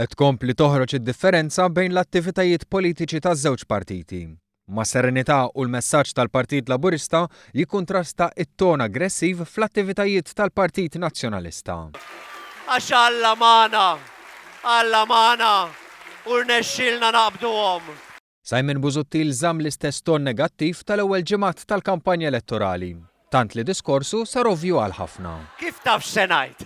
Qed tkompli toħroġ id-differenza bejn l-attivitajiet politiċi taż-żewġ partiti. Ma' serenità u l-messaġġ tal-Partit Laburista jikkuntrasta t-ton aggressiv fl-attivitajiet tal-Partit Nazzjonalista. Għax Alla magħna! Alla magħna u rnexxielna naqbduhom! Simon Busuttil żamm l-istess ton negattiv tal-ewwel ġimgħat tal-kampanja elettorali, tant li diskorsu sar ovvju għal ħafna. Kif taf x'se ngħid?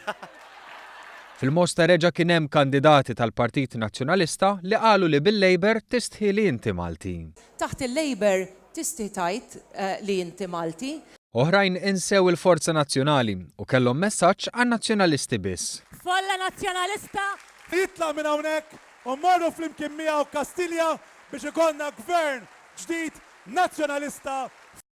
Fil-Mosta reġa' kien hemm kandidati tal-Partit Nazzjonalista li qalu li bil-Labour tistħi li inti Malti. Taħt il-Labour tistħi tgħid li inti Malti. Oħrajn insew il-Forza Nazzjonali u kellhom messaġġ għan-Nazzjonalisti biss. Folla Nazzjonalista! Jitlaq minn hawnhekk u mmorru flimkien miegħu Kastilja biex ikollna Gvern ġdid Nazzjonalista.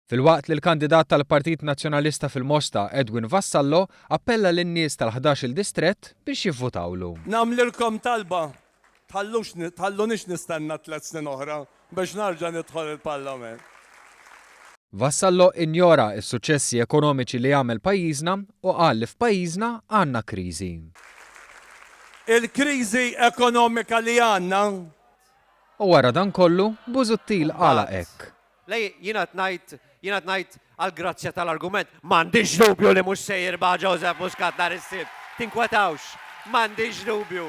Filwaqt li l-kandidat tal-Partit Nazzjonalista fil-Mosta, Edwin Vassallo, appella lin-nies tal-ħdax-il distrett biex jivvutawlu. Nagħmlilkom talba, tħallux tħallunix nistenna tliet snin oħra Biex narġa' nidħol il-Parlament. Vassallo injora s-suċċessi ekonomiċi li għamel pajjiżna u qal li f'pajjiżna għandna kriżi. Il-kriżi ekonomika li għandna. U wara dan kollu, Busuttil qala hekk. Le, jien għad ngħid. Jien qed ngħid għall-grazzja tal-argument, m'għandix dubju li mhux se jirbaħ Joseph Muscat nhar is-Sibt. Tinkwetawx, m'għandix dubju.